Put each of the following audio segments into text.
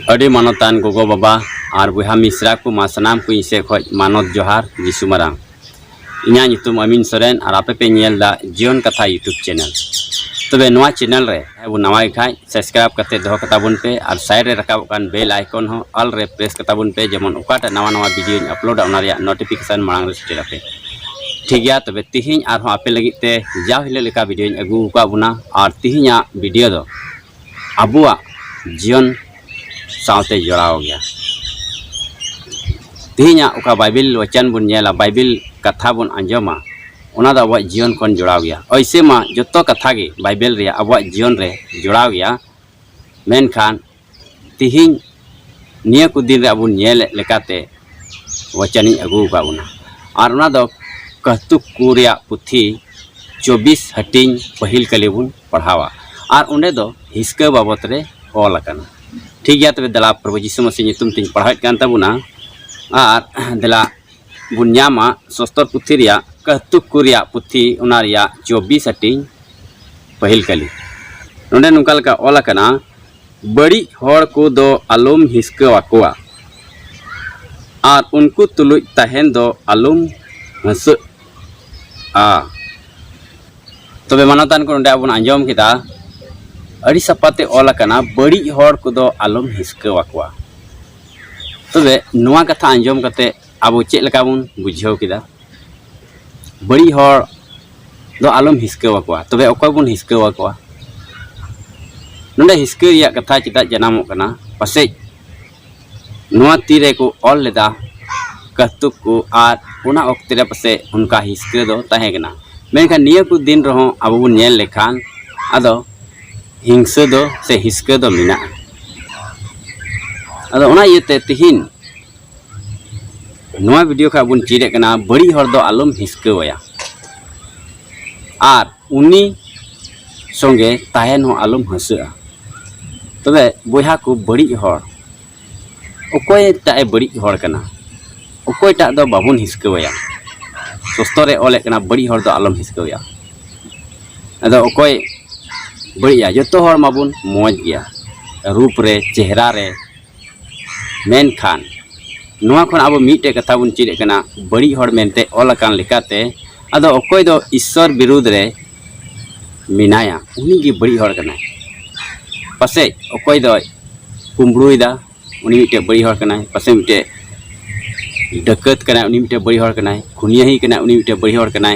ᱟᱹᱰᱤ ᱢᱟᱱᱚᱛᱟᱱ ᱜᱚᱜᱚ ᱵᱟᱵᱟ ᱟᱨ ᱵᱚᱭᱦᱟ ᱢᱤᱥᱨᱟ ᱠᱚ ᱢᱟ ᱥᱟᱱᱟᱢ ᱠᱚ ᱤᱧ ᱥᱮᱫ ᱠᱷᱚᱱ ᱢᱟᱱᱚᱛ ᱡᱚᱦᱟᱨ ᱡᱤᱥᱩ ᱢᱟᱨᱟᱝ ᱤᱧᱟᱹᱜ ᱧᱩᱛᱩᱢ ᱟᱢᱤᱱ ᱥᱚᱨᱮᱱ ᱟᱨ ᱟᱯᱮ ᱯᱮ ᱧᱮᱞ ᱫᱟ ᱡᱤᱭᱚᱱ ᱠᱟᱛᱷᱟ ᱤᱭᱩᱴᱩᱵᱽ ᱪᱮᱱᱮᱞ ᱛᱚᱵᱮ ᱱᱚᱣᱟ ᱪᱮᱱᱮᱞ ᱨᱮ ᱟᱵᱚ ᱱᱟᱣᱟ ᱜᱮ ᱠᱷᱟᱡ ᱥᱟᱵᱥᱠᱨᱟᱭᱤᱵ ᱠᱟᱛᱮ ᱫᱚᱦᱚ ᱠᱟᱛᱟ ᱵᱚᱱ ᱯᱮ ᱟᱨ ᱥᱟᱭᱤᱰ ᱨᱮ ᱨᱟᱠᱟᱵᱚᱜ ᱠᱟᱱ ᱵᱮᱞ ᱟᱭᱠᱚᱱ ᱦᱚᱸ ᱚᱞ ᱨᱮ ᱯᱨᱮᱥ ᱠᱟᱛᱟ ᱵᱚᱱ ᱯᱮ ᱡᱮᱢᱚᱱ ᱚᱠᱟᱴᱟᱜ ᱱᱟᱣᱟ ᱱᱟᱣᱟ ᱵᱷᱤᱰᱤᱭᱳᱧ ᱟᱯᱞᱳᱰᱟ ᱚᱱᱟ ᱨᱮᱭᱟᱜ ᱱᱳᱴᱤᱯᱷᱤᱠᱮᱥᱚᱱ ᱢᱟᱲᱟᱝ ᱨᱮ ᱥᱮᱴᱮᱨ ᱟᱯᱮ ᱴᱷᱤᱠ ᱜᱮᱭᱟ ᱛᱚᱵᱮ ᱛᱤᱦᱤᱧ ᱟᱨᱦᱚᱸ ᱟᱯᱮ ᱞᱟᱹᱜᱤᱫ ᱛᱮ ᱡᱟᱣ ᱦᱤᱞᱳᱜ ᱞᱮᱠᱟ ᱵᱷᱤᱰᱤᱭᱳᱧ ᱟᱹᱜᱩ ᱟᱠᱟᱫ ᱵᱚᱱᱟ ᱟᱨ ᱛᱤᱦᱤᱧᱟᱜ ᱵᱷᱤᱰᱤᱭᱳ ᱫᱚ ᱟᱵᱚᱣᱟᱜ ᱡᱤᱭᱚᱱ ᱥᱟᱶᱛᱮ ᱡᱚᱲᱟᱣ ᱜᱮᱭᱟ ᱛᱮᱦᱮᱧᱟᱜ ᱚᱠᱟ ᱵᱟᱭᱵᱮᱞ ᱵᱟᱪᱟᱱ ᱵᱚᱱ ᱧᱮᱞᱟ ᱵᱟᱭᱵᱮᱞ ᱠᱟᱛᱷᱟ ᱵᱚᱱ ᱟᱸᱡᱚᱢᱟ ᱚᱱᱟ ᱫᱚ ᱟᱵᱚᱣᱟᱜ ᱡᱤᱭᱚᱱ ᱠᱷᱚᱱ ᱡᱚᱲᱟᱣ ᱜᱮᱭᱟ ᱚᱭᱥᱮ ᱢᱟ ᱡᱚᱛᱚ ᱠᱟᱛᱷᱟ ᱜᱮ ᱵᱟᱭᱵᱮᱞ ᱨᱮᱭᱟᱜ ᱟᱵᱚᱣᱟᱜ ᱡᱤᱭᱚᱱ ᱨᱮ ᱡᱚᱲᱟᱣ ᱜᱮᱭᱟ ᱢᱮᱱᱠᱷᱟᱱ ᱛᱮᱦᱮᱧ ᱱᱤᱭᱟᱹ ᱠᱚ ᱫᱤᱱ ᱨᱮ ᱟᱵᱚ ᱧᱮᱞᱮᱫ ᱞᱮᱠᱟᱛᱮ ᱵᱟᱪᱟᱱᱤᱧ ᱟᱹᱜᱩ ᱟᱠᱟᱫ ᱵᱚᱱᱟ ᱟᱨ ᱚᱱᱟ ᱫᱚ ᱠᱟᱹᱦᱛᱩᱠ ᱠᱚ ᱨᱮᱭᱟᱜ ᱯᱩᱛᱷᱤ ᱪᱚᱵᱵᱤᱥ ᱦᱟᱹᱴᱤᱧ ᱯᱟᱹᱦᱤᱞ ᱠᱟᱞᱤ ᱵᱚᱱ ᱯᱟᱲᱦᱟᱣᱟ ᱟᱨ ᱚᱸᱰᱮ ᱫᱚ ᱦᱤᱥᱠᱟᱹ ᱵᱟᱵᱚᱫ ᱨᱮ ᱚᱞ ᱟᱠᱟᱱᱟ ᱴᱷᱤᱠ ᱜᱮᱭᱟ ᱛᱚᱵᱮ ᱫᱮᱞᱟ ᱯᱨᱚᱵᱷᱩ ᱡᱤᱥᱩ ᱢᱟᱹᱥᱤ ᱧᱩᱛᱩᱢ ᱛᱤᱧ ᱯᱟᱲᱦᱟᱣᱮᱫ ᱠᱟᱱ ᱛᱟᱵᱚᱱᱟ ᱟᱨ ᱫᱮᱞᱟ ᱵᱚᱱ ᱧᱟᱢᱟ ᱥᱚᱥᱛᱚᱨ ᱯᱩᱛᱷᱤ ᱨᱮᱭᱟᱜ ᱠᱟᱹᱦᱛᱩᱠ ᱠᱚ ᱨᱮᱭᱟᱜ ᱯᱩᱛᱷᱤ ᱚᱱᱟ ᱨᱮᱭᱟᱜ ᱪᱚᱵᱵᱤᱥ ᱦᱟᱹᱴᱤᱧ ᱯᱟᱹᱦᱤᱞ ᱠᱟᱹᱞᱤ ᱱᱚᱰᱮ ᱱᱚᱝᱠᱟ ᱞᱮᱠᱟ ᱚᱞ ᱟᱠᱟᱱᱟ ᱵᱟᱹᱲᱤᱡ ᱦᱚᱲ ᱠᱚᱫᱚ ᱟᱞᱚᱢ ᱦᱤᱥᱠᱟᱹ ᱟᱠᱚᱣᱟ ᱟᱨ ᱩᱱᱠᱩ ᱛᱩᱞᱩᱡ ᱛᱟᱦᱮᱱ ᱫᱚ ᱟᱞᱚᱢ ᱦᱟᱹᱥᱟᱹᱜ ᱦᱮᱸ ᱛᱚᱵᱮ ᱢᱟᱱᱚᱛᱟᱱ ᱠᱚ ᱱᱚᱰᱮ ᱟᱵᱚᱱ ᱟᱸᱡᱚᱢ ᱠᱮᱫᱟ ᱟᱹᱰᱤ ᱥᱟᱯᱟᱛᱮ ᱚᱞ ᱟᱠᱟᱱᱟ ᱵᱟᱹᱲᱤᱡ ᱦᱚᱲ ᱠᱚᱫᱚ ᱟᱞᱚᱢ ᱦᱤᱥᱠᱟᱹ ᱟᱠᱚᱣᱟ ᱛᱚᱵᱮ ᱱᱚᱣᱟ ᱠᱟᱛᱷᱟ ᱟᱸᱡᱚᱢ ᱠᱟᱛᱮ ᱟᱵᱚ ᱪᱮᱫ ᱞᱮᱠᱟ ᱵᱚᱱ ᱵᱩᱡᱷᱟᱹᱣ ᱠᱮᱫᱟ ᱵᱟᱹᱲᱤᱡ ᱦᱚᱲ ᱫᱚ ᱟᱞᱚᱢ ᱦᱤᱥᱠᱟᱹ ᱟᱠᱚᱣᱟ ᱛᱚᱵᱮ ᱚᱠᱚᱭ ᱵᱚᱱ ᱦᱤᱥᱠᱟᱹ ᱟᱠᱚᱣᱟ ᱱᱚᱰᱮ ᱦᱤᱥᱠᱟᱹ ᱨᱮᱭᱟᱜ ᱠᱟᱛᱷᱟ ᱪᱮᱫᱟᱜ ᱡᱟᱱᱟᱢᱚᱜ ᱠᱟᱱᱟ ᱯᱟᱥᱮᱡ ᱱᱚᱣᱟ ᱛᱤ ᱨᱮᱠᱚ ᱚᱞ ᱞᱮᱫᱟ ᱠᱟᱹᱛᱩᱠ ᱠᱚ ᱟᱨ ᱚᱱᱟ ᱚᱠᱛᱮ ᱨᱮ ᱯᱟᱥᱮᱡ ᱚᱱᱠᱟ ᱦᱤᱥᱠᱟᱹ ᱫᱚ ᱛᱟᱦᱮᱸ ᱠᱟᱱᱟ ᱢᱮᱱᱠᱷᱟᱱ ᱱᱤᱭᱟᱹ ᱠᱚ ᱫᱤᱱ ᱨᱮᱦᱚᱸ ᱟᱵᱚ ᱵᱚᱱ ᱧᱮᱞ ᱞᱮᱠᱷᱟᱱ ᱟᱫᱚ ᱦᱤᱝᱥᱟᱹ ᱫᱚ ᱥᱮ ᱦᱤᱥᱠᱟᱹ ᱫᱚ ᱢᱮᱱᱟᱜᱼᱟ ᱟᱫᱚ ᱚᱱᱟ ᱤᱭᱟᱹᱛᱮ ᱛᱤᱦᱤᱧ ᱱᱚᱣᱟ ᱵᱷᱤᱰᱤᱭᱳ ᱠᱷᱚᱱ ᱵᱚᱱ ᱪᱮᱫᱮᱫ ᱠᱟᱱᱟ ᱵᱟᱹᱲᱤᱡ ᱦᱚᱲ ᱫᱚ ᱟᱞᱚᱢ ᱦᱤᱥᱠᱟᱹᱣᱟᱭᱟ ᱟᱨ ᱩᱱᱤ ᱥᱚᱸᱜᱮ ᱛᱟᱦᱮᱱ ᱦᱚᱸ ᱟᱞᱚᱢ ᱦᱟᱹᱥᱟᱹᱜᱼᱟ ᱛᱚᱵᱮ ᱵᱚᱭᱦᱟ ᱠᱚ ᱵᱟᱹᱲᱤᱡ ᱦᱚᱲ ᱚᱠᱚᱭᱴᱟᱜ ᱮ ᱵᱟᱹᱲᱤᱡ ᱦᱚᱲ ᱠᱟᱱᱟ ᱚᱠᱚᱭᱴᱟᱜ ᱫᱚ ᱵᱟᱵᱚᱱ ᱦᱤᱥᱠᱟᱹᱣᱟᱭᱟ ᱥᱚᱥᱛᱚ ᱨᱮ ᱚᱞᱮᱫ ᱠᱟᱱᱟ ᱵᱟᱹᱲᱤᱡ ᱦᱚᱲ ᱫᱚ ᱟᱞᱚᱢ ᱦᱤᱥᱠᱟᱹᱣᱟᱭᱟ ᱟᱫᱚ ᱚᱠᱚᱭ ᱵᱟᱹᱲᱤᱡᱼᱟ ᱡᱚᱛᱚ ᱦᱚᱲ ᱢᱟᱵᱚᱱ ᱢᱚᱡᱽ ᱜᱮᱭᱟ ᱨᱩᱯ ᱨᱮ ᱪᱮᱦᱨᱟ ᱨᱮ ᱢᱮᱱᱠᱷᱟᱱ ᱱᱚᱣᱟ ᱠᱷᱚᱱ ᱟᱵᱚ ᱢᱤᱫᱴᱮᱡ ᱠᱟᱛᱷᱟ ᱵᱚᱱ ᱪᱮᱫ ᱠᱟᱱᱟ ᱵᱟᱹᱲᱤᱡ ᱦᱚᱲ ᱢᱮᱱᱛᱮ ᱚᱞ ᱟᱠᱟᱱ ᱞᱮᱠᱟᱛᱮ ᱟᱫᱚ ᱚᱠᱚᱭ ᱫᱚ ᱤᱥᱥᱚᱨ ᱵᱤᱨᱩᱫᱽ ᱨᱮ ᱢᱮᱱᱟᱭᱟ ᱩᱱᱤ ᱜᱮ ᱵᱟᱹᱲᱤᱡ ᱦᱚᱲ ᱠᱟᱱᱟᱭ ᱯᱟᱥᱮᱡ ᱚᱠᱚᱭ ᱫᱚ ᱠᱩᱢᱵᱽᱲᱩᱭᱮᱫᱟ ᱩᱱᱤ ᱢᱤᱫᱴᱮᱡ ᱵᱟᱹᱲᱤᱡ ᱦᱚᱲ ᱠᱟᱱᱟᱭ ᱯᱟᱥᱮᱡ ᱢᱤᱫᱴᱮᱡ ᱰᱟᱹᱠᱟᱹᱛ ᱠᱟᱱᱟᱭ ᱩᱱᱤ ᱢᱤᱫᱴᱮᱡ ᱵᱟᱹᱲᱤᱡ ᱦᱚᱲ ᱠᱟᱱᱟᱭ ᱠᱷᱩᱱᱭᱟᱹᱦᱤ ᱠᱟᱱᱟᱭ ᱩᱱᱤ ᱢᱤᱫᱴᱮᱡ ᱵᱟᱹᱲᱤᱡ ᱦᱚᱲ ᱠᱟᱱᱟᱭ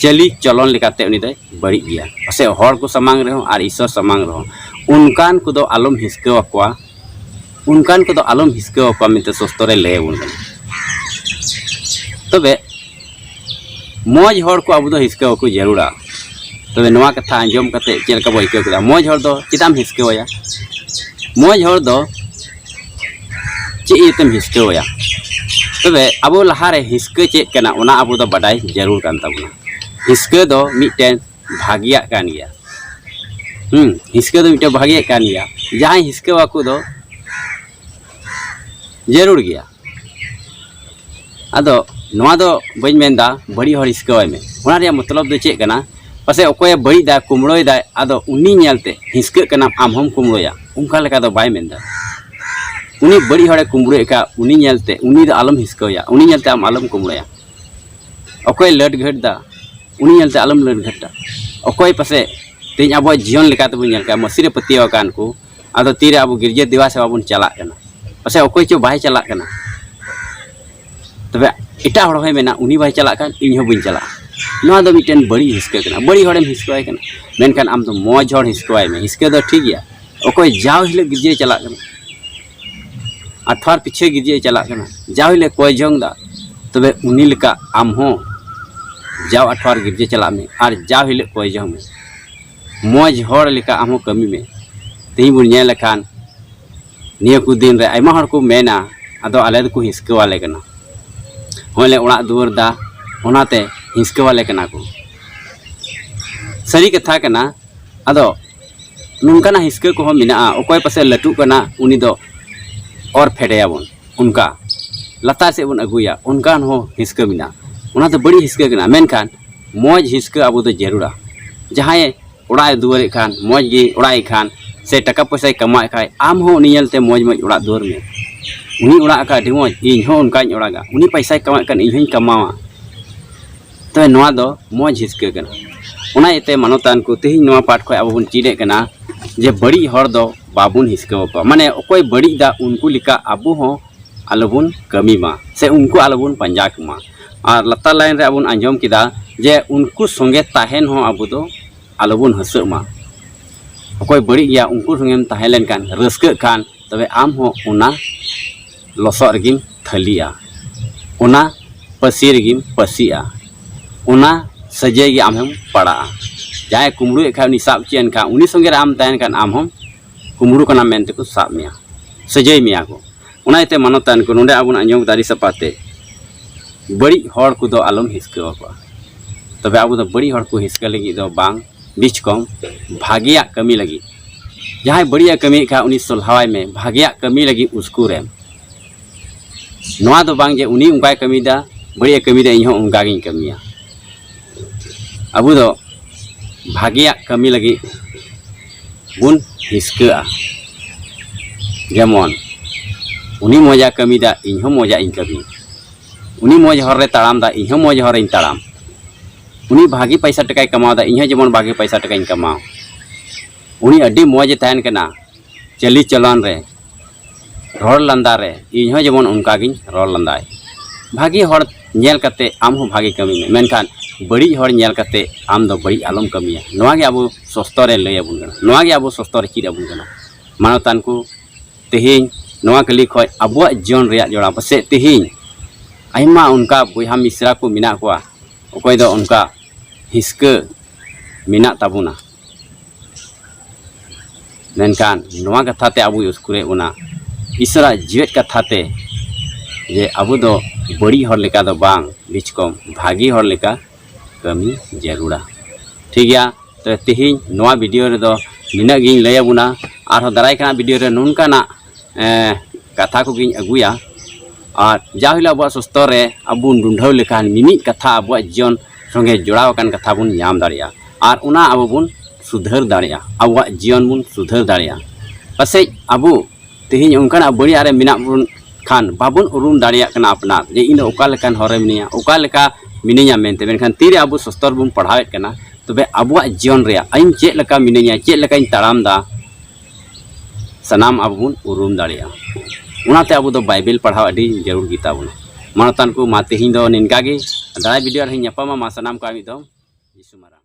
ᱪᱟᱹᱞᱤ ᱪᱚᱞᱚᱱ ᱞᱮᱠᱟᱛᱮ ᱩᱱᱤ ᱫᱚᱭ ᱵᱟᱹᱲᱤᱡ ᱜᱮᱭᱟ ᱯᱟᱥᱮ ᱦᱚᱲ ᱠᱚ ᱥᱟᱢᱟᱝ ᱨᱮᱦᱚᱸ ᱟᱨ ᱤᱥᱥᱚᱨ ᱥᱟᱢᱟᱝ ᱨᱮᱦᱚᱸ ᱚᱱᱠᱟᱱ ᱠᱚᱫᱚ ᱟᱞᱚᱢ ᱦᱤᱥᱠᱟᱹ ᱟᱠᱚᱣᱟ ᱚᱱᱠᱟᱱ ᱠᱚᱫᱚ ᱟᱞᱚᱢ ᱦᱤᱥᱠᱟᱹ ᱟᱠᱚᱣᱟ ᱢᱮᱱᱛᱮ ᱥᱚᱥᱛᱚᱨᱮ ᱞᱟᱹᱭ ᱟᱵᱚᱱ ᱠᱟᱱᱟ ᱛᱚᱵᱮ ᱢᱚᱡᱽ ᱦᱚᱲ ᱠᱚ ᱟᱵᱚ ᱫᱚ ᱦᱤᱥᱠᱟᱹ ᱟᱠᱚ ᱡᱟᱹᱨᱩᱲᱟ ᱛᱚᱵᱮ ᱱᱚᱣᱟ ᱠᱟᱛᱷᱟ ᱟᱸᱡᱚᱢ ᱠᱟᱛᱮ ᱪᱮᱫ ᱞᱮᱠᱟ ᱵᱚ ᱟᱹᱭᱠᱟᱹᱣ ᱠᱮᱫᱟ ᱢᱚᱡᱽ ᱦᱚᱲ ᱫᱚ ᱪᱮᱫᱟᱜ ᱮᱢ ᱦᱤᱥᱠᱟᱹᱣᱟᱭᱟ ᱢᱚᱡᱽ ᱦᱚᱲ ᱫᱚ ᱪᱮᱫ ᱤᱭᱟᱹᱛᱮᱢ ᱦᱤᱥᱠᱟᱹᱣᱟᱭᱟ ᱛᱚᱵᱮ ᱟᱵᱚ ᱞᱟᱦᱟᱨᱮ ᱦᱤᱥᱠᱟᱹ ᱪᱮᱫ ᱠᱟᱱᱟ ᱚᱱᱟ ᱟᱵᱚ ᱫᱚ ᱵᱟᱰᱟᱭ ᱡᱟᱹᱨᱩᱲ ᱠᱟᱱ ᱛᱟᱵᱚᱱᱟ ᱦᱤᱥᱠᱟᱹ ᱫᱚ ᱢᱤᱫᱴᱮᱱ ᱵᱷᱟᱹᱜᱤᱭᱟᱜ ᱠᱟᱱ ᱜᱮᱭᱟ ᱦᱮᱸ ᱦᱤᱥᱠᱟᱹ ᱫᱚ ᱢᱤᱫᱴᱮᱱ ᱵᱷᱟᱹᱜᱤᱭᱟᱜ ᱠᱟᱱ ᱜᱮᱭᱟ ᱡᱟᱦᱟᱸᱭ ᱦᱤᱥᱠᱟᱹᱣᱟᱠᱚ ᱫᱚ ᱡᱟᱹᱨᱩᱲ ᱜᱮᱭᱟ ᱟᱫᱚ ᱱᱚᱣᱟ ᱫᱚ ᱵᱟᱹᱧ ᱢᱮᱱᱫᱟ ᱵᱟᱹᱲᱤᱡ ᱦᱚᱲ ᱦᱤᱥᱠᱟᱹᱣᱟᱭ ᱢᱮ ᱚᱱᱟ ᱨᱮᱭᱟᱜ ᱢᱚᱛᱞᱚᱵ ᱫᱚ ᱪᱮᱫ ᱠᱟᱱᱟ ᱯᱟᱥᱮ ᱚᱠᱚᱭᱮ ᱵᱟᱹᱲᱤᱡᱫᱟᱭ ᱠᱩᱢᱲᱳᱭᱫᱟᱭ ᱟᱫᱚ ᱩᱱᱤ ᱧᱮᱞᱛᱮ ᱦᱤᱥᱠᱟᱹᱜ ᱠᱟᱱᱟᱢ ᱟᱢ ᱦᱚᱢ ᱠᱩᱢᱲᱳᱭᱟ ᱚᱱᱠᱟ ᱞᱮᱠᱟ ᱫᱚ ᱵᱟᱭ ᱢᱮᱱᱫᱟ ᱩᱱᱤ ᱵᱟᱹᱲᱤᱡ ᱦᱚᱲᱮ ᱠᱩᱢᱲᱳᱭᱮᱫ ᱠᱷᱟᱱ ᱩᱱᱤ ᱧᱮᱞᱛᱮ ᱩᱱᱤ ᱫᱚ ᱟᱞᱚᱢ ᱦᱤᱥᱠᱟᱹᱣᱭᱟ ᱩᱱᱤ ᱧᱮᱞᱛᱮ ᱟᱢ ᱟᱞᱚᱢ ᱠᱩᱢᱲᱳᱭᱟ ᱚᱠᱚᱭ ᱞᱟᱹᱴ ᱜᱷᱟᱹᱴᱫᱟ ᱩᱱᱤ ᱧᱮᱞᱛᱮ ᱟᱞᱚᱢ ᱞᱟᱹᱴ ᱜᱷᱟᱹᱴᱟ ᱚᱠᱚᱭ ᱯᱟᱥᱮ ᱛᱮᱦᱮᱧ ᱟᱵᱚᱣᱟᱜ ᱡᱤᱭᱚᱱ ᱞᱮᱠᱟᱛᱮᱵᱚᱱ ᱧᱮᱞ ᱠᱟᱜᱼᱟ ᱢᱟᱹᱥᱤᱨᱮ ᱯᱟᱹᱛᱭᱟᱹᱣ ᱟᱠᱟᱱ ᱠᱚ ᱟᱫᱚ ᱛᱤᱨᱮ ᱟᱵᱚ ᱜᱤᱨᱡᱟᱹ ᱫᱮᱵᱟ ᱥᱮᱵᱟ ᱵᱚᱱ ᱪᱟᱞᱟᱜ ᱠᱟᱱᱟ ᱯᱟᱥᱮᱡ ᱚᱠᱚᱭ ᱪᱚ ᱵᱟᱭ ᱪᱟᱞᱟᱜ ᱠᱟᱱᱟ ᱛᱚᱵᱮ ᱮᱴᱟᱜ ᱦᱚᱲ ᱦᱚᱸᱭ ᱢᱮᱱᱟ ᱩᱱᱤ ᱵᱟᱭ ᱪᱟᱞᱟᱜ ᱠᱟᱱ ᱤᱧ ᱦᱚᱸ ᱵᱟᱹᱧ ᱪᱟᱞᱟᱜᱼᱟ ᱱᱚᱣᱟ ᱫᱚ ᱢᱤᱫᱴᱮᱱ ᱵᱟᱹᱲᱤᱡ ᱦᱤᱥᱠᱟᱹ ᱠᱟᱱᱟ ᱵᱟᱹᱲᱤᱡ ᱦᱚᱲᱮᱢ ᱦᱤᱥᱠᱟᱹᱣᱟᱭ ᱠᱟᱱᱟ ᱢᱮᱱᱠᱷᱟᱱ ᱟᱢ ᱫᱚ ᱢᱚᱡᱽ ᱦᱚᱲ ᱦᱤᱥᱠᱟᱹᱣᱟᱭ ᱢᱮ ᱦᱤᱥᱠᱟᱹ ᱫᱚ ᱴᱷᱤᱠ ᱜᱮᱭᱟ ᱚᱠᱚᱭ ᱡᱟᱣ ᱦᱤᱞᱳᱜ ᱜᱤᱨᱡᱟᱹᱭ ᱪᱟᱞᱟᱜ ᱠᱟᱱᱟ ᱟᱴᱷᱣᱟᱨ ᱯᱤᱪᱷᱟᱹ ᱜᱤᱨᱡᱟᱹᱭ ᱪᱟᱞᱟᱜ ᱠᱟᱱᱟ ᱡᱟᱣ ᱦᱤᱞᱳᱜ ᱠᱚᱭ ᱡᱚᱝ ᱫᱟ ᱛᱚᱵᱮ ᱩᱱᱤ ᱞᱮᱠᱟ ᱟᱢ ᱦᱚᱸ ᱡᱟᱣ ᱟᱴᱷᱣᱟᱨ ᱜᱤᱨᱡᱟᱹ ᱪᱟᱞᱟᱜ ᱢᱮ ᱟᱨ ᱡᱟᱣ ᱦᱤᱞᱳᱜ ᱠᱚᱭ ᱡᱚᱝ ᱢᱮ ᱢᱚᱡᱽ ᱦᱚᱲ ᱞᱮᱠᱟ ᱟᱢ ᱦᱚᱸ ᱠᱟᱹᱢᱤ ᱢᱮ ᱛᱮᱦᱮᱧ ᱵᱚᱱ ᱧᱮᱞ ᱞᱮᱠᱷᱟᱱ ᱱᱤᱭᱟᱹ ᱠᱚ ᱫᱤᱱ ᱨᱮ ᱟᱭᱢᱟ ᱦᱚᱲ ᱠᱚ ᱢᱮᱱᱟ ᱟᱫᱚ ᱟᱞᱮ ᱫᱚᱠᱚ ᱦᱤᱥᱠᱟᱹᱣᱟᱞᱮ ᱠᱟᱱᱟ ᱦᱚᱸᱜᱼᱚᱭ ᱞᱮ ᱚᱲᱟᱜ ᱫᱩᱣᱟᱹᱨ ᱫᱟ ᱚᱱᱟᱛᱮ ᱦᱤᱥᱠᱟᱹᱣᱟᱞᱮ ᱠᱟᱱᱟ ᱠᱚ ᱥᱟᱹᱨᱤ ᱠᱟᱛᱷᱟ ᱠᱟᱱᱟ ᱟᱫᱚ ᱱᱚᱝᱠᱟᱱᱟᱜ ᱦᱤᱥᱠᱟᱹ ᱠᱚᱦᱚᱸ ᱢᱮᱱᱟᱜᱼᱟ ᱚᱠᱚᱭ ᱯᱟᱥᱮ ᱞᱟᱹᱴᱩᱜ ᱠᱟᱱᱟ ᱩᱱᱤ ᱫᱚ ᱚᱨ ᱯᱷᱮᱰᱮᱭᱟᱵᱚᱱ ᱚᱱᱠᱟ ᱞᱟᱛᱟᱨ ᱥᱮᱫ ᱵᱚᱱ ᱟᱹᱜᱩᱭᱟ ᱚᱱᱠᱟᱱ ᱦᱚᱸ ᱦᱤᱥᱠᱟᱹ ᱢᱮᱱᱟᱜᱼᱟ ᱚᱱᱟ ᱫᱚ ᱵᱟᱹᱲᱤᱡ ᱦᱤᱥᱠᱟᱹ ᱠᱟᱱᱟ ᱢᱮᱱᱠᱷᱟᱱ ᱢᱚᱡᱽ ᱦᱤᱥᱠᱟᱹ ᱟᱵᱚ ᱫᱚ ᱡᱟᱹᱨᱩᱲᱟ ᱡᱟᱦᱟᱸᱭ ᱚᱲᱟᱜ ᱮ ᱫᱩᱣᱟᱹᱨ ᱮᱫ ᱠᱷᱟᱱ ᱢᱚᱡᱽ ᱜᱮ ᱚᱲᱟᱜ ᱮᱫ ᱠᱷᱟᱱ ᱥᱮ ᱴᱟᱠᱟ ᱯᱚᱭᱥᱟᱭ ᱠᱟᱢᱟᱣ ᱮᱫ ᱠᱷᱟᱱ ᱟᱢ ᱦᱚᱸ ᱩᱱᱤ ᱧᱮᱞᱛᱮ ᱢᱚᱡᱽ ᱢᱚᱡᱽ ᱚᱲᱟᱜ ᱫᱩᱣᱟᱹᱨ ᱢᱮ ᱩᱱᱤ ᱚᱲᱟᱜ ᱟᱠᱟᱫ ᱟᱹᱰᱤ ᱢᱚᱡᱽ ᱤᱧ ᱦᱚᱸ ᱚᱱᱠᱟᱧ ᱚᱲᱟᱜᱟ ᱩᱱᱤ ᱯᱚᱭᱥᱟᱭ ᱠᱟᱢᱟᱣᱮᱫ ᱠᱷᱟᱱ ᱤᱧ ᱦᱚᱸᱧ ᱠᱟᱢᱟᱣᱟ ᱛᱚᱵᱮ ᱱᱚᱣᱟ ᱫᱚ ᱢᱚᱡᱽ ᱦᱤᱥᱠᱟᱹ ᱠᱟᱱᱟ ᱚᱱᱟ ᱤᱭᱟᱹᱛᱮ ᱢᱟᱱᱚᱛᱟᱱ ᱠᱚ ᱛᱮᱦᱮᱧ ᱱᱚᱣᱟ ᱯᱟᱴ ᱠᱷᱚᱱ ᱟᱵᱚ ᱵᱚᱱ ᱪᱮᱫ ᱮᱫ ᱠᱟᱱᱟ ᱡᱮ ᱵᱟᱹᱲᱤᱡ ᱦᱚᱲ ᱫᱚ ᱵᱟᱵᱚᱱ ᱦᱤᱥᱠᱟᱹ ᱟᱠᱚᱣᱟ ᱢᱟᱱᱮ ᱚᱠᱚᱭ ᱵᱟᱹᱲᱤᱡ ᱫᱟ ᱩᱱᱠᱩ ᱞᱮᱠᱟ ᱟᱵᱚ ᱦᱚᱸ ᱟᱞᱚᱵᱚᱱ ᱠᱟᱹᱢᱤ ᱢᱟ ᱥᱮ ᱩᱱᱠᱩ ᱟᱞᱚᱵᱚᱱ ᱯᱟᱸᱡᱟ ᱠᱚᱢᱟ ᱟᱨ ᱞᱟᱛᱟᱨ ᱞᱟᱭᱤᱱ ᱨᱮ ᱟᱵᱚᱱ ᱟᱸᱡᱚᱢ ᱠᱮᱫᱟ ᱡᱮ ᱩᱱᱠᱩ ᱥᱚᱸᱜᱮ ᱛᱟᱦᱮᱱ ᱦᱚᱸ ᱟᱵᱚ ᱫᱚ ᱟᱞᱚᱵᱚᱱ ᱦᱟᱹᱥᱟᱹᱜ ᱢᱟ ᱚᱠᱚᱭ ᱵᱟᱹᱲᱤᱡ ᱜᱮᱭᱟ ᱩᱱᱠᱩ ᱥᱚᱸᱜᱮᱢ ᱛᱟᱦᱮᱸ ᱞᱮᱱᱠᱷᱟᱱ ᱨᱟᱹᱥᱠᱟᱹᱜ ᱠᱷᱟᱱ ᱛᱚᱵᱮ ᱟᱢ ᱦᱚᱸ ᱚᱱᱟ ᱞᱚᱥᱚᱫ ᱨᱮᱜᱮᱢ ᱛᱷᱟᱹᱞᱤᱜᱼᱟ ᱚᱱᱟ ᱯᱟᱹᱥᱤ ᱨᱮᱜᱮᱢ ᱯᱟᱹᱥᱤᱜᱼᱟ ᱚᱱᱟ ᱥᱟᱹᱡᱟᱹᱭ ᱜᱮ ᱟᱢ ᱦᱚᱸᱢ ᱯᱟᱲᱟᱜᱼᱟ ᱡᱟᱦᱟᱸᱭ ᱠᱩᱢᱵᱽᱲᱩᱭᱮᱫ ᱠᱷᱟᱱ ᱩᱱᱤ ᱥᱟᱵ ᱦᱚᱪᱚᱭᱮᱱ ᱠᱷᱟᱱ ᱩᱱᱤ ᱥᱚᱸᱜᱮ ᱨᱮ ᱟᱢ ᱛᱟᱦᱮᱱ ᱠᱷᱟᱱ ᱟᱢ ᱦᱚᱸᱢ ᱠᱩᱢᱵᱽᱲᱩ ᱠᱟᱱᱟ ᱢᱮᱱᱛᱮ ᱠᱚ ᱥᱟᱵ ᱢᱮᱭᱟ ᱥᱟᱹᱡᱟᱹᱭ ᱢᱮᱭᱟ ᱠᱚ ᱚᱱᱟ ᱤᱭᱟᱹᱛᱮ ᱢᱟᱱᱚᱛᱟᱱ ᱠᱚ ᱱᱚᱰᱮ ᱟᱵᱚᱱᱟᱜ ᱧᱚᱜ ᱫᱟᱨᱮ ᱥᱟᱯᱷᱟ ᱛᱮ ᱵᱟᱹᱲᱤᱡ ᱦᱚᱲ ᱠᱚᱫᱚ ᱟᱞᱚᱢ ᱦᱤᱥᱠᱟᱹ ᱟᱠᱚᱣᱟ ᱛᱚᱵᱮ ᱟᱵᱚ ᱫᱚ ᱵᱟᱹᱲᱤᱡ ᱦᱚᱲ ᱠᱚ ᱦᱤᱥᱠᱟᱹ ᱞᱟᱹᱜᱤᱫ ᱫᱚ ᱵᱟᱝ ᱵᱤᱪ ᱠᱚᱢ ᱵᱷᱟᱜᱮᱭᱟᱜ ᱠᱟᱹᱢᱤ ᱞᱟᱹᱜᱤᱫ ᱡᱟᱦᱟᱸᱭ ᱵᱟᱹᱲᱤᱡ ᱮ ᱠᱟᱹᱢᱤᱭᱮᱫ ᱠᱷᱟᱱ ᱩᱱᱤ ᱥᱚᱞᱦᱟᱣᱟᱭ ᱢᱮ ᱵᱷᱟᱜᱮᱭᱟᱜ ᱠᱟᱹᱢᱤ ᱞᱟᱹᱜᱤᱫ ᱩᱥᱠᱩᱨ ᱮᱢ ᱱᱚᱣᱟ ᱫᱚ ᱵᱟᱝ ᱡᱮ ᱩᱱᱤ ᱚᱱᱠᱟᱭ ᱠᱟᱹᱢᱤᱭᱮᱫᱟ ᱵᱟᱹᱲᱤᱡ ᱮ ᱠᱟᱹᱢᱤᱭᱮᱫᱟ ᱤᱧ ᱦᱚᱸ ᱚᱱᱠᱟ ᱜᱤᱧ ᱠᱟᱹᱢᱤᱭᱟ ᱟᱵᱚ ᱫᱚ ᱵᱷᱟᱜᱮᱭᱟᱜ ᱠᱟᱹᱢᱤ ᱞᱟᱹᱜᱤᱫ ᱵᱚᱱ ᱦᱤᱥᱠᱟᱹᱜᱼᱟ ᱡᱮᱢᱚᱱ ᱩᱱᱤ ᱢᱚᱡᱟ ᱠᱟᱹᱢᱤᱫᱟ ᱤᱧ ᱦᱚᱸ ᱢᱚᱡᱟ ᱤᱧ ᱠᱟᱹᱢᱤ ᱩᱱᱤ ᱢᱚᱡᱽ ᱦᱚᱨ ᱨᱮ ᱛᱟᱲᱟᱢ ᱫᱟ ᱤᱧ ᱦᱚᱸ ᱢᱚᱡᱽ ᱦᱚᱨ ᱨᱮᱧ ᱛᱟᱲᱟᱢ ᱩᱱᱤ ᱵᱷᱟᱜᱮ ᱯᱚᱭᱥᱟ ᱴᱟᱠᱟᱭ ᱠᱟᱢᱟᱣ ᱫᱟ ᱤᱧ ᱦᱚᱸ ᱡᱮᱢᱚᱱ ᱵᱷᱟᱜᱮ ᱯᱚᱭᱥᱟ ᱴᱟᱠᱟᱧ ᱠᱟᱢᱟᱣ ᱩᱱᱤ ᱟᱹᱰᱤ ᱢᱚᱡᱽ ᱮ ᱛᱟᱦᱮᱱ ᱠᱟᱱᱟ ᱪᱟᱹᱞᱤ ᱪᱚᱞᱚᱱ ᱨᱮ ᱨᱚᱲ ᱞᱟᱸᱫᱟ ᱨᱮ ᱤᱧ ᱦᱚᱸ ᱡᱮᱢᱚᱱ ᱚᱱᱠᱟ ᱜᱤᱧ ᱨᱚᱲ ᱞᱟᱸᱫᱟᱭ ᱵᱷᱟᱹᱜᱤ ᱦᱚᱲ ᱧᱮᱞ ᱠᱟᱛᱮ ᱟᱢ ᱦᱚᱸ ᱵᱷᱟᱹᱜᱤ ᱠᱟᱹᱢᱤ ᱢᱮ ᱢᱮᱱᱠᱷᱟᱱ ᱵᱟᱹᱲᱤᱡ ᱦᱚᱲ ᱧᱮᱞ ᱠᱟᱛᱮ ᱟᱢ ᱫᱚ ᱵᱟᱹᱲᱤᱡ ᱟᱞᱚᱢ ᱠᱟᱹᱢᱤᱭᱟ ᱱᱚᱣᱟ ᱜᱮ ᱟᱵᱚ ᱥᱚᱥᱛᱚ ᱨᱮ ᱞᱟᱹᱭ ᱟᱵᱚᱱ ᱠᱟᱱᱟ ᱱᱚᱣᱟ ᱜᱮ ᱟᱵᱚ ᱥᱚᱥᱛᱚ ᱨᱮ ᱪᱮᱫ ᱟᱵᱚᱱ ᱠᱟᱱᱟ ᱢᱟᱱᱚᱛᱟᱱ ᱠᱚ ᱛᱮᱦᱮᱧ ᱱᱚᱣᱟ ᱠᱟᱹᱞᱤ ᱠᱷᱚᱡ ᱟᱵᱚᱣᱟᱜ ᱡᱤᱭᱚᱱ ᱨᱮᱭᱟᱜ ᱡᱚᱲᱟᱣ ᱯᱟᱥᱮᱡ ᱛᱮᱦᱮᱧ ᱟᱭᱢᱟ ᱚᱱᱠᱟ ᱵᱚᱭᱦᱟ ᱢᱤᱥᱨᱟ ᱠᱚ ᱢᱮᱱᱟᱜ ᱠᱚᱣᱟ ᱚᱠᱚᱭ ᱫᱚ ᱚᱱᱠᱟ ᱦᱤᱥᱠᱟᱹ ᱢᱮᱱᱟᱜ ᱛᱟᱵᱚᱱᱟ ᱢᱮᱱᱠᱷᱟᱱ ᱱᱚᱣᱟ ᱠᱟᱛᱷᱟ ᱛᱮ ᱟᱵᱚᱭ ᱩᱥᱠᱩᱨᱮᱫ ᱵᱚᱱᱟ ᱤᱥᱚᱨᱟᱜ ᱡᱮᱣᱮᱫ ᱠᱟᱛᱷᱟ ᱛᱮ ᱡᱮ ᱟᱵᱚ ᱫᱚ ᱵᱟᱹᱲᱤᱡ ᱦᱚᱲ ᱞᱮᱠᱟ ᱫᱚ ᱵᱟᱝ ᱵᱤᱪ ᱠᱚᱢ ᱵᱷᱟᱹᱜᱤ ᱦᱚᱲ ᱞᱮᱠᱟ ᱠᱟᱹᱢᱤ ᱡᱟᱹᱨᱩᱲᱟ ᱴᱷᱤᱠ ᱜᱮᱭᱟ ᱛᱚ ᱛᱮᱦᱮᱧ ᱱᱚᱣᱟ ᱵᱷᱤᱰᱤᱭᱳ ᱨᱮᱫᱚ ᱱᱤᱱᱟᱹᱜ ᱜᱤᱧ ᱞᱟᱹᱭ ᱟᱵᱚᱱᱟ ᱟᱨᱦᱚᱸ ᱫᱟᱨᱟᱭ ᱠᱟᱱ ᱵᱷᱤᱰᱤᱭᱳ ᱨᱮ ᱱᱚᱝᱠᱟᱱᱟᱜ ᱠᱟᱛᱷᱟ ᱠᱚᱜᱮᱧ ᱟᱹᱜᱩᱭᱟ ᱟᱨ ᱡᱟ ᱦᱤᱞᱳᱜ ᱟᱵᱚᱣᱟᱜ ᱥᱟᱥᱛᱨᱚ ᱨᱮ ᱟᱵᱚ ᱵᱚᱱ ᱰᱩᱰᱷᱟᱹᱣ ᱞᱮᱠᱷᱟᱱ ᱢᱤᱢᱤᱫ ᱠᱟᱛᱷᱟ ᱟᱵᱚᱣᱟᱜ ᱡᱤᱭᱚᱱ ᱥᱚᱸᱜᱮ ᱡᱚᱲᱟᱣ ᱟᱠᱟᱱ ᱠᱟᱛᱷᱟ ᱵᱚᱱ ᱧᱟᱢ ᱫᱟᱲᱮᱭᱟᱜᱼᱟ ᱟᱨ ᱚᱱᱟ ᱟᱵᱚ ᱵᱚᱱ ᱥᱩᱫᱷᱟᱹᱨ ᱫᱟᱲᱮᱭᱟᱜᱼᱟ ᱟᱵᱚᱣᱟᱜ ᱡᱤᱭᱚᱱ ᱵᱚᱱ ᱥᱩᱫᱷᱟᱹᱨ ᱫᱟᱲᱮᱭᱟᱜᱼᱟ ᱯᱟᱥᱮᱡ ᱟᱵᱚ ᱛᱮᱦᱮᱧ ᱚᱱᱠᱟᱱᱟᱜ ᱵᱟᱹᱲᱤᱡᱟᱜ ᱨᱮ ᱢᱮᱱᱟᱜ ᱵᱚᱱ ᱠᱷᱟᱱ ᱵᱟᱵᱚᱱ ᱩᱨᱩᱢ ᱫᱟᱲᱮᱭᱟᱜ ᱠᱟᱱᱟ ᱟᱯᱱᱟᱨ ᱡᱮ ᱤᱧ ᱫᱚ ᱚᱠᱟ ᱞᱮᱠᱟᱱ ᱦᱚᱨ ᱨᱮ ᱢᱤᱱᱟᱹᱧᱟ ᱚᱠᱟ ᱞᱮᱠᱟ ᱢᱤᱱᱟᱹᱧᱟ ᱢᱮᱱᱛᱮ ᱢᱮᱱᱠᱷᱟᱱ ᱛᱤᱨᱮ ᱟᱵᱚ ᱥᱟᱥᱛᱨᱚ ᱵᱚᱱ ᱯᱟᱲᱦᱟᱣᱮᱫ ᱠᱟᱱᱟ ᱛᱚᱵᱮ ᱟᱵᱚᱣᱟᱜ ᱡᱤᱭᱚᱱ ᱨᱮᱭᱟᱜ ᱤᱧ ᱪᱮᱫ ᱞᱮᱠᱟ ᱢᱤᱱᱟᱹᱧᱟ ᱪᱮᱫ ᱞᱮᱠᱟᱧ ᱛᱟᱲᱟᱢᱫᱟ ᱥᱟᱱᱟᱢ ᱟᱵᱚ ᱵᱚᱱ ᱩᱨᱩᱢ ᱫᱟᱲᱮᱭᱟᱜᱼᱟ ᱚᱱᱟᱛᱮ ᱟᱵᱚ ᱫᱚ ᱵᱟᱭᱵᱮᱞ ᱯᱟᱲᱦᱟᱣ ᱟᱹᱰᱤ ᱡᱟᱹᱨᱩᱲ ᱜᱮᱛᱟ ᱵᱚᱱᱟ ᱢᱟᱱᱚᱛᱟᱱ ᱠᱚ ᱢᱟ ᱛᱮᱦᱮᱧ ᱫᱚ ᱱᱤᱝᱠᱟ ᱜᱮ ᱫᱟᱨᱟᱭ ᱵᱷᱤᱰᱤᱭᱳ ᱨᱮᱧ ᱧᱟᱯᱟᱢᱟ ᱢᱟ ᱥᱟᱱᱟᱢ ᱠᱚ ᱢᱤᱫ ᱫᱚᱢ ᱡᱤᱥᱩ ᱢᱟᱨᱟᱝ